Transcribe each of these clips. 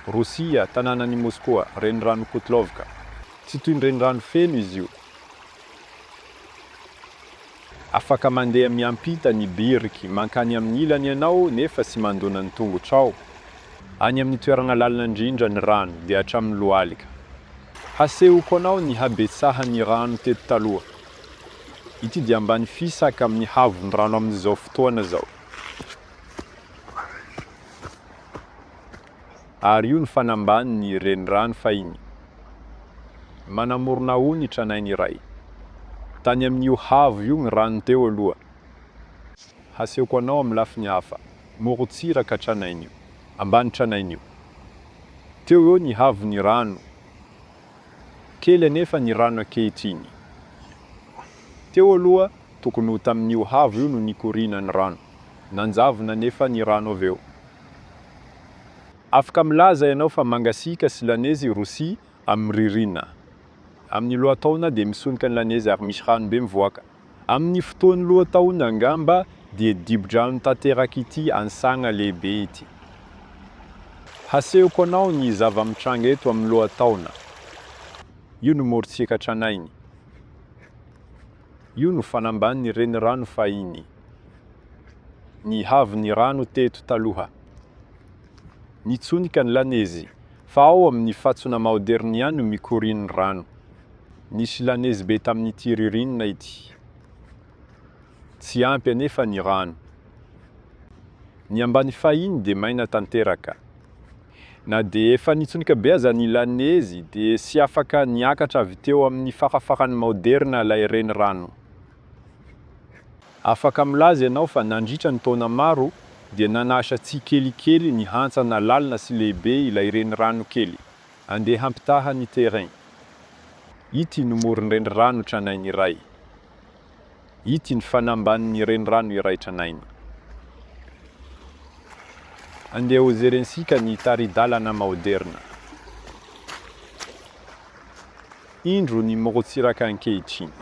Rosia, tanànan' i Môskoa, Renirano Kotlovka. Tsy toy ny renirano feno izy io. Afaka mandeha miampita ny biriky mankany amin' ny ilany ianao nefa tsy mandona ny tongotrao. Any amin' ny toerana lalina indrindra ny rano dia hatramin' ny lohalika. Hasehoko anao ny habetsahan' ny rano teto taloha. Ity dia ambany fisaka amin' ny havon' ny rano amin' izao fotoana izao. ary io ny fanambanin'ny renirano fahiny. Manamorona ao ny tranainy iray. Tany amin'io haavo io ny rano teo aloha. Hasehoko anao amin'ny lafiny hafa. Morontsiraka tranainy io, ambany tranainy io. Teo eo ny haavon'ny rano. Kely anefa ny rano ankehitriny. Teo aloha, tokony ho tamin'io haavo io no nikoriana ny rano. Nanjavona anefa ny rano avy eo. Afaka milaza ianao fa mangasiaka sy lanezy i Rosia amin'ny ririnina. Amin'ny lohataona dia misonika ny lanezy ary misy rano be mivoaka. Amin'ny fotoan'ny lohataona angamba dia dibo-drano tanteraka ity ansagna lehibe ity. Hasehoko anao ny zava-mitranga eto amin'ny lohataona. Io no morontsiraka tranainy. Io no fanambanin'ny renirano fahiny. Ny haavon'ny rano teto taloha. Nitsonika ny lanezy, fa ao amin'ny fatsona maoderina ihany no mikorian'ny rano. Nisy lanezy be tamin'ity ririnina ity. Tsy ampy anefa ny rano. Ny ambany fahiny dia maina tanteraka. Na dia efa nitsonika be aza ny lanezy, dia tsy afaka niakatra avy teo amin'ny farafaran'ny maoderina ilay renirano. Afaka milaza ianao fa nandritra ny taona maro, dia nanasa tsikelikely ny hantsana lalina sy lehibe ilay renirano kely, andeha hampitaha ny terrain. Ity no moron-drenirano tranainy iray. Ity ny fanambanin'ny renirano iray tranainy. Andeha hojerentsika ny tari-dalana maoderina. Indro ny morontsiraka ankehitriny.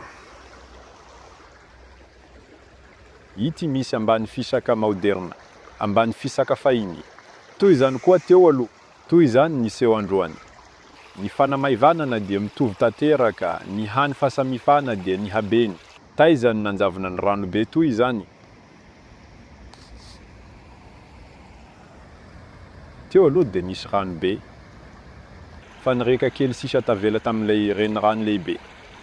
Ity misy ambany fisaka maoderina, ambany fisaka fahiny. Toy izany koa teo aloha, Toy izany ny seho androany. Ny fanamaivanana dia mitovy tanteraka, ny hany fahasamifana dia ny habeny. Taiza no nanjavona ny rano be toy izany? Teo aloha dia nisy rano be, fa ny riaka kely sisa tavela tamin'ilay renirano lehibe